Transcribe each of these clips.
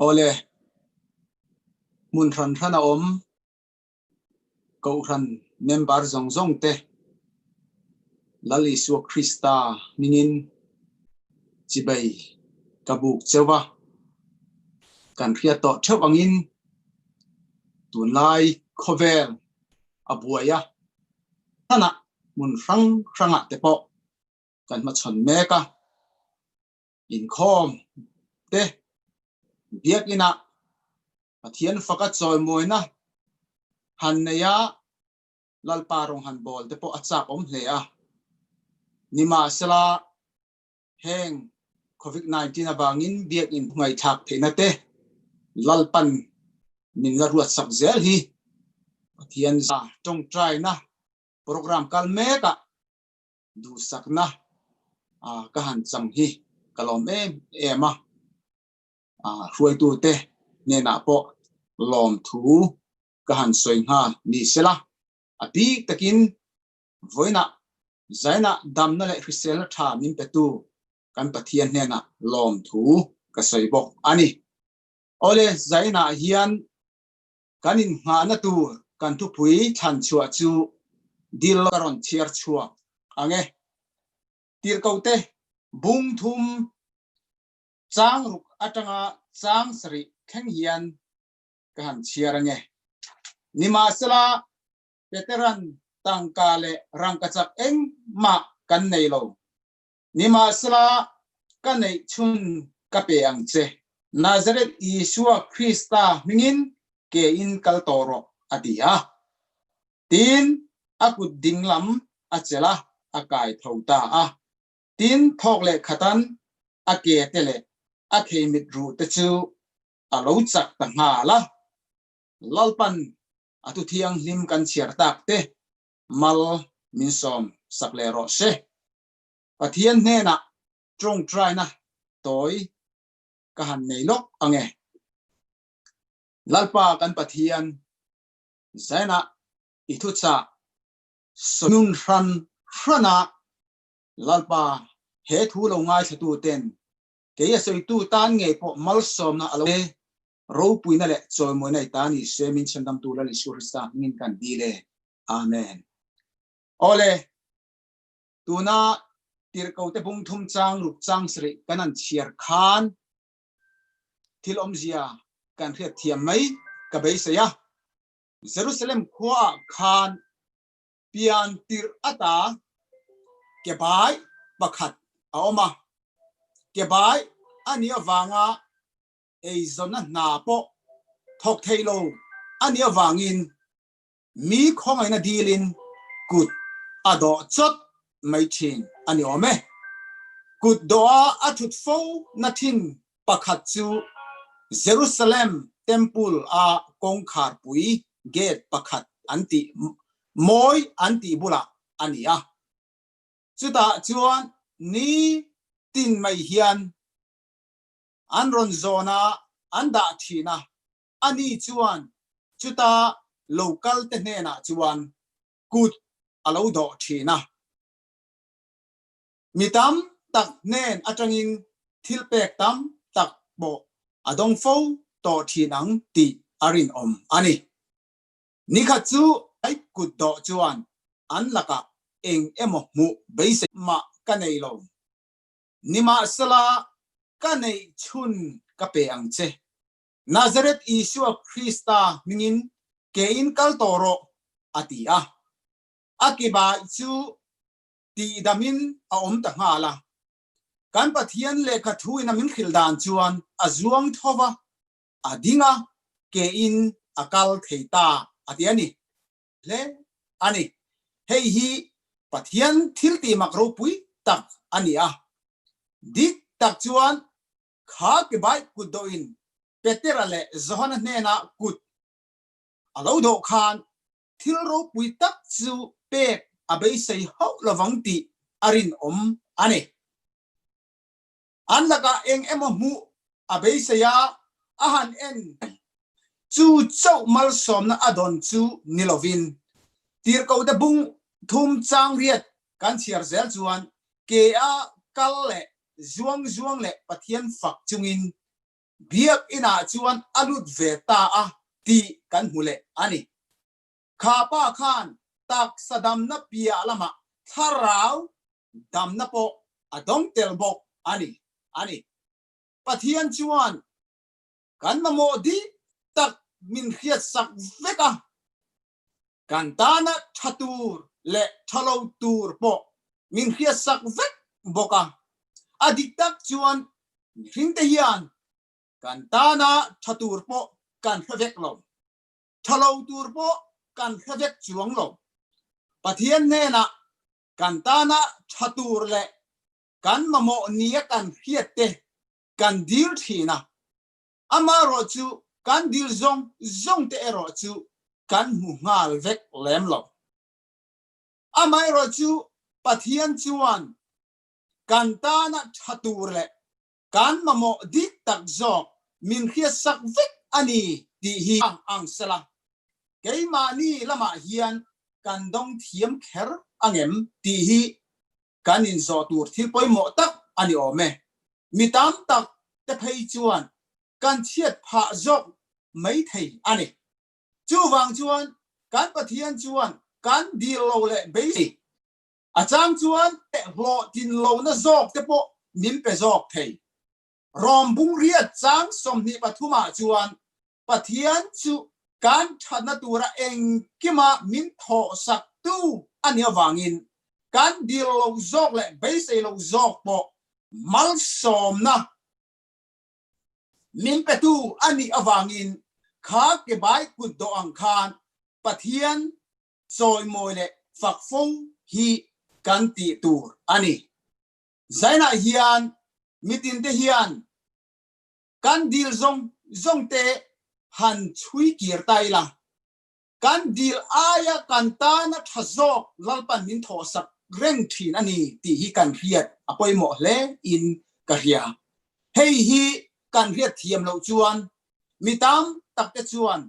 Awle, hmun hran hran a awm Kohhran member zawng zawng te Lal Isua Krista hmingin chibei ka buk cheu a, kan hria tawh theuh angin Tunlai khawvel a buai a, hmanah hmun hrang hrangah te pawh kan hmachhawn mek a, inkhawm te, Biakina Pathian faka chawimuina han nei a, Lalpa rawn han bawl te pawh a chakawm hle a, nimahsela Heng Covid nineteen avangin biakinn ngaihthlak theihna-te lalpan min la ruatsak zel hi Pathian zia tawngtaina program kal mekah duhsakna ka han chang hi ka lawm em em a, hruaitute hnenah pawh lawmthu ka han sawi nghal ni sela a bik takin Vawiinah, zainah damna leh hriselna tha min petu kan Pathian hnenah lawmthu ka sawi bawk a ni. Awle, zainah hian kan innghahna tur kan thupui thlan chhuah chu dil ka rawn chhiar chhuak ang e. Tirhkote, bungthum, chang ruk atanga chang sarih thleng hian ka han chhiar ang e. Nimahsela, Veteran tangka leh rangkachak eng mah kan nei lo. Nimahsela ka neih chhun ka pe ang che. Nazareth Isua Krista hmingin ke in kal tawh rawh, a ti a. Tiin a kut ding lam a chelh a, a kai tho ta a. Tin thawk leh khatan a ke te leh a kheimit ruh te chu a lo chak ta nghal a. Lalpan a tu thianghlim kan chhiar tak te mal min sawm sak leh rawh se. Pathian hnenah ṭawng ṭaina tawi ka han nei lawk ange. Lalpa kan Pathian, zenah i thuchak sawnun hran hrana Lalpa he thu lo ngaithlatuten kei a sawitu tan ngei pawh malsawmna a lo pe ropuina leh chawimawina i ta ni se, min Chhendamtu Lal Isua Krista hmingin ka han dil e. Amen. Awle, tuna tirhkote bungthum chang ruk chang sarih kan han chhiar khan thil awmzia kan hriatthiam mai ka beisei a. Jerusalem khuaah khan pian tirh ata kebai pakhat a awm a, kebai a nih avanga eizawnna hna pawh thawk thei lo a nih avangin mi khawngaihna dilin kut a dawh chawt mai thin a ni awm e. Kut dawha a thut fo na thin pakhat chu Jerusalem Temple a kawngkhar pui gate pakhat an tih mawi an tih bulah a ni a. Chutah chuan ni tin mai hian an rawn zawn a an dah thin a, ani chuan chuta lo kal te hnenah chuan kut a lo dawh thin a. Mi tam tak hnen atangin thil pek tam tak pawh a dawng fo tawh thin ang tih a rinawm a ni. Ni khat chu ai kut dawh chuan an lakah eng emaw hmuh beisei mah ka nei lo. Nimahsela, ka neih chhun ka pe ang che. Nazareth Isua Krista hmingin ke in kal tawh rawh, a ti a. A ke bai chu tihdamin a awm ta nghal a. Kan Pathian lehkha thu in a min hrilh dan chuan a zuang thova, a ding a, ke in a kal thei ta, a ti a ni. hle a ni. Hei hi Pathian thiltihmak ropui tak a ni a. Dik tak chuan kha kebai kut dawhin Petera leh Johana hnenah kut a lo dawh khan thil ropui tak chu pek a beisei hauh lovang tih a rinawm a ni. An lakah eng emaw hmuh a beisei a, a han en. Chu chauh malsawmna a dawn chu ni lovin, tirhkohte bung thum changriat kan chhiar zel chuan ke a kal leh zuang zuang leh Pathian fak chungin Biak inah chuan a lut ve ta a tih kan hmu leh a ni. Kha pa khan taksa damna piah lamah thlarau damna pawh a dawng tel bawk a ni. A ni. Pathian chuan kan mamawh dih tak min hriatsak vek a, kan tana tha tur leh tha lo tur pawh min hriatsak vek bawk a. A dik tak chuan mihringte hian kan tana tha tur pawh kan hre vek lo. Tha lo tur pawh kan hre vek chuang lo. Pathian hnenah kan tana tha tur leh kan mamawh nia kan hriat te kan dil thin a, amah rawh chu kan dil zawng zawng te erawh chu kan hmu nghal vek lem lo. Amaherawhchu Pathian chuan kan tana tha tur leh Kan mamawh dik tak zawk min hriatsak vek a ni tih hi a ang sela, keimahni lamah hian kan dawng thiam kher ang em tih hi kan inzawh tur thil pawimawh tak a ni awm e. Mi tam tak te phei chuan kan chhiat phah zawk mai thei a ni. Chuvang chuan kan Pathian chuan kan dil lo leh beisei A chang chuan tehhlawh tin lohna zawk te pawh min pe zawk thei. Rom bunghriat chang sawmhnih pathum ah chuan Pathian chu kan thatna tur a engkim a min thawh sak tu a nih avangin kan dil lo zawk leh beisei lo zawk pawh malsawmna min pe tu a nih avangin kha ke bai kut dawh ang khan Pathian chawimawi leh fakfawng hi kan tih tur a ni. Zainah hian mitinte hian kan dil zawng zawngte han chhui kir ta ila, kan dil aia kan tana tha zawk lalpan min thawhsak reng thin a ni tih hi kan hriat a pawimawh hle in ka hria. Hei hi kan hriat thiam loh chuan mi tam takte chuan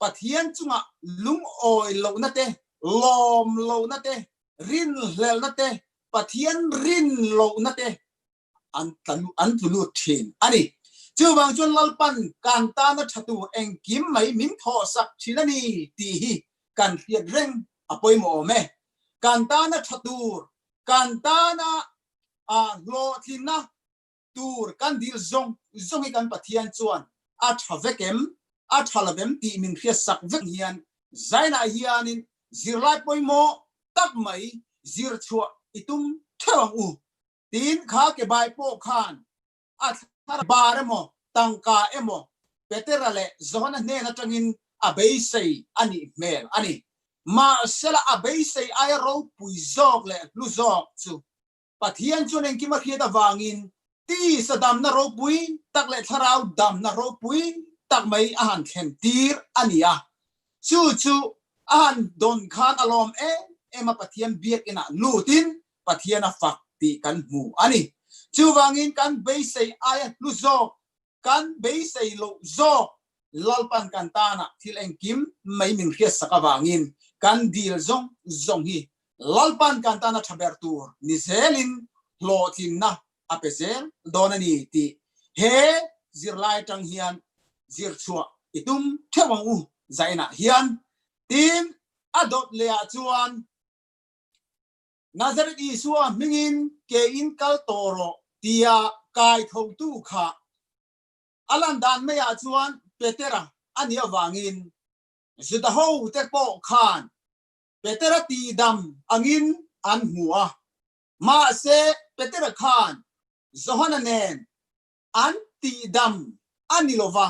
Pathian chungah lungawi lohna te, lawm lohna te, rinhlelhna te, Pathian rin lohna te an an tlu lut thin a ni. Chuvang chuan Lalpan kan tana tha tur engkim mai min thawh sak thin a ni tih hi kan hriat reng a pawimawh awm e. Kan tana tha tur, kan tana hlawhtlinna, tur kan dil zawng zawng hi kan Pathian chuan a tha vek em, a tha lo em tih min hria sak vek hian zainah hianin zirlai pawimawh tak mai zir chhuah i tum theuh ang u tiin kha ke bai pawh khan a thlarau bar emaw tangka emaw Petera leh Johana hnen atangin a beisei a nih hmel a ni. Mahsela a beisei aia ropui zawk leh hlu zawk chu Pathian chuan engkim a hriat avangin tisa damna ropui tak leh thlarau damna ropui tak mai a han thlen tir a ni a. Chu chu a han dawn khan a lawm em em a Pathian biakinah lutin Pathian a fak tih kan hmu a ni. Chuvangin kan beisei aia hlu zawk kan beisei loh zawk Lalpan kan tana thil engkim mai min hriat sak avangin kan dil zawng zawng hi Lalpan kan tana tha ber tur ni zelin hlawhtlinna a pe zel dawn a ni tih he zirlai atang hian zir chhuah i tum theuh ang u zainah hian tin a dawt leh ah chuan Nazareth Isua hmingin ke in kal tawh rawh tia kai thotu kha a lan dan mai ah chuan Petera a nih avangin Juda hote pawh khan Petera tihdam angin an hmu a. Mahse Petera khan Johana nen an tihdam a ni lova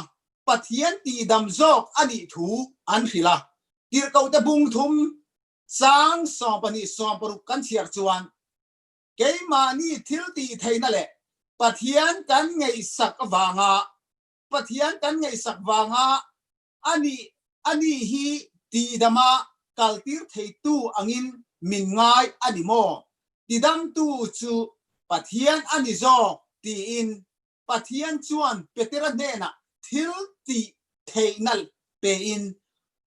Pathian tihdam zawk a nih thu an hrilh a. Tirhkohte bungthum Chang sawm pahnih sawm paruk kan chhiar chuan keimahni thiltihtheihna leh Pathian kan ngaihsak avanga Pathian kan ngaihsak vanga a nih a ni hi tihdama kaltir theitu angin min ngai a ni maw? Tidamtu chu Pathian a ni zawk tiin Pathian chuan Petera hnenah thil tih theih nalh pein,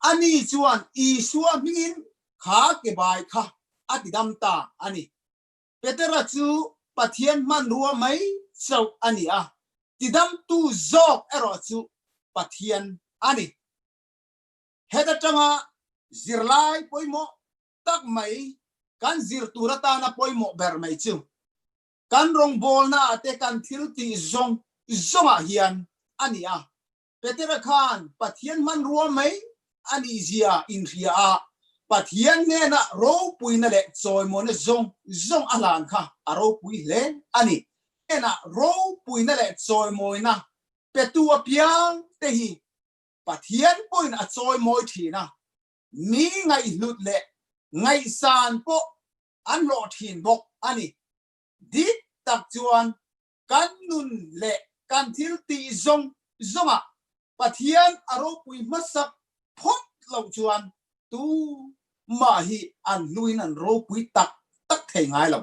ani chuan Isua hmingin kha ke bai kha a tidam ta a ni. Petera chu Pathian hmanrua mai chauh a ni a, tidamtu zawk erawh chu Pathian a ni. Heta tanga zirlai pawimawh tak mai kan zir tur atana pawimawh ber mai chu Kan rawngbawlnaah te kan thiltih zawng zawngah hian a ni a. Petera khan Pathian hmanrua mai a nihzia inhria a, Pathian hnena ropuina leh chawimawina zawng zawng a hlan kha a ropui hle a ni. Hnena ropuina leh chawimawina petu apiang te hi Pathian pawhin a chawimawi thin a, mi ngaihhlut leh ngaihsan pawh an hlawh thin bawk a ni. Dik tak chuan kan nun leh kan thil tih zawng zawngah Pathian a ropui hmasak phawt loh chuan tu mah hi an hnuin an ropui tak tak thei ngai lo.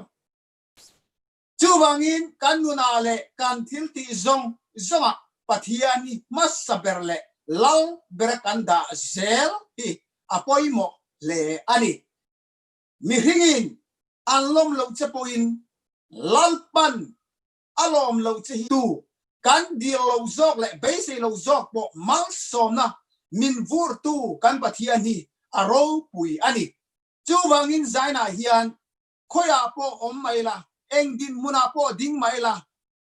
Chuvangin kan nunah leh kan thil tih zawng zawngah Pathian hi hmasa ber leh lal bera kan dah zel hi a pawimawh hle a ni. mihringin an lawm loh che pawhin Lalpan a lawm loh che hi tu kan dir lo zawk leh beisei lo zawk pawh malsawmna min vurtu kan Pathian hi a ropui a ni. Chuvangin zainah hian khawiah pawh awm mai la, engdin hmunah pawh ding mai la,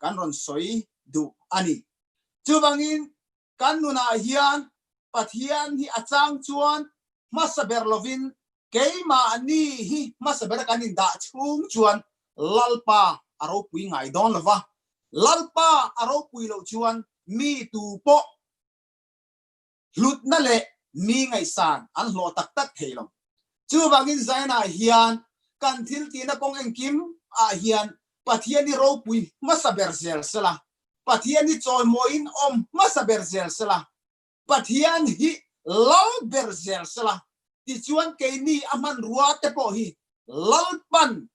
kan rawn sawi duh a ni. Chuvangin kan nunah hian Pathian hi a chang chuan hmasa ber lovin keimahni hi hmasa ber kan indah chhung chuan Lalpa a ropui ngai dawn lo va, Lalpa a ropui loh chuan mi tu pawh, hlutna leh mi ngaihsan an hlawh tak tak thei lo. Chu vangin zainah hian kan thil tihna kawng engkim ah hian Pathian i ropui hmasa ber zel se la, Pathian i chawimawi in awm hmasa ber zel se la, Pathian hi lal ber zel se la, tichuan keini a hmanrua te pawh hi lalpan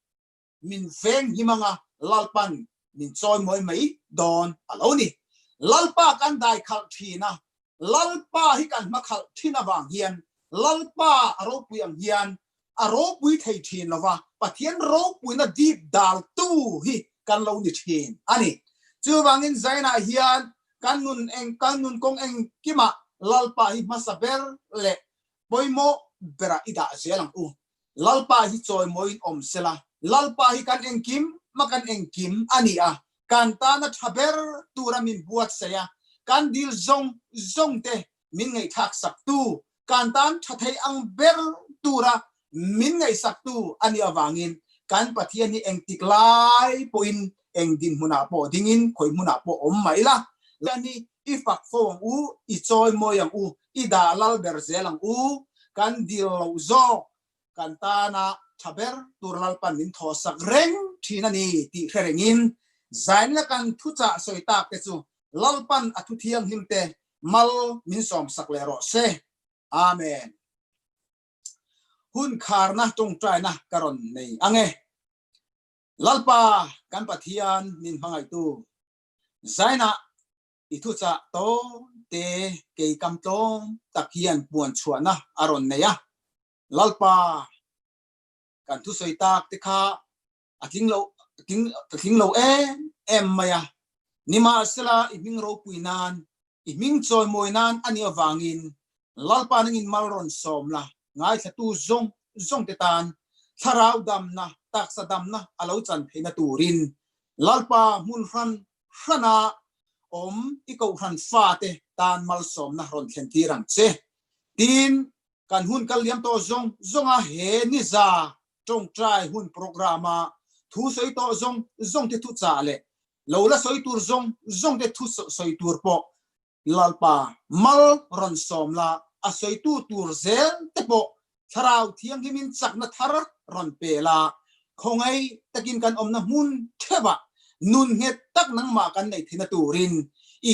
min veng him anga Lalpa'n min chawimawi mai dawn a lo ni. Lalpa kan dai khalh thin a, Lalpa hi kan hma khalh thin avang hian Lalpa a ropui ang hian a ropui thei thin lo va, Pathian ropuina dip daltu hi kan lo ni thin a ni. Chuvangin zainah hian kan nun eng, kan nun kawng engkimah Lalpa hi hmasa ber leh pawimawh berah i dah zel ang u. Lalpa hi chawimawiin awm sela, Lalpa hi kan engkim ma kan engkim a ni a, kan tana tha ber tura min buatsaih a, kan dil zawng zawngte min ngaihthlaksaktu, kan tan tha thei ang ber tura min ngaihsaktu a nih avangin kan Pathian hi engtik lai pawhin engdinhmunah pawh dingin khawihmunah pawh awm mah ila, Pathian hi I fak fo ang u, i chawi mawi ang u, i dah lal ber zel ang u, kan dil lo zawk, kan tana tha ber tur lalpan min thawhsak reng thin a ni tih hre rengin zain la kan thuchah sawi tak te chu lalpan a thu thianghlim te mal min sawm sak leh rawh se. Amen. Hun kharna tawngtaina ka rawn nei ang e. Lalpa kan Pathian min hmangaihtu, Zaina i thuchah tawngte kei kam tlawm tak hian puan chhuahna a rawn nei a, Lalpa kan thusawi tak te kha a tling lo tling lo em em mai a, nimahsela i hming ropui nan I hming chawi mawi nan a nih avangin Lalpa nang in mal rawn sawm la, ngaithlatu zawng zawngte tan thlarau damna, taksa damna a lo chan theihna turin Lalpa hmun hran hrana awm i kohhran fate tan malsawmna rawn thlentir ang che tiin Kan hun kal liam tawh zawng zawnga he niza tawngtai hun programme-a thu sawi tawh zawng zawngte thuchah leh lo la sawi tur zawng zawngte thu sawi tur pawh Lalpa mal rawn sawm la, a sawitu tur zel te pawh Thlarau Thianghlimin chakna thar rawn pel a, khawngei takin kan awmna hmun theuhah nun nghet tak nangmah kan nei thei na turin i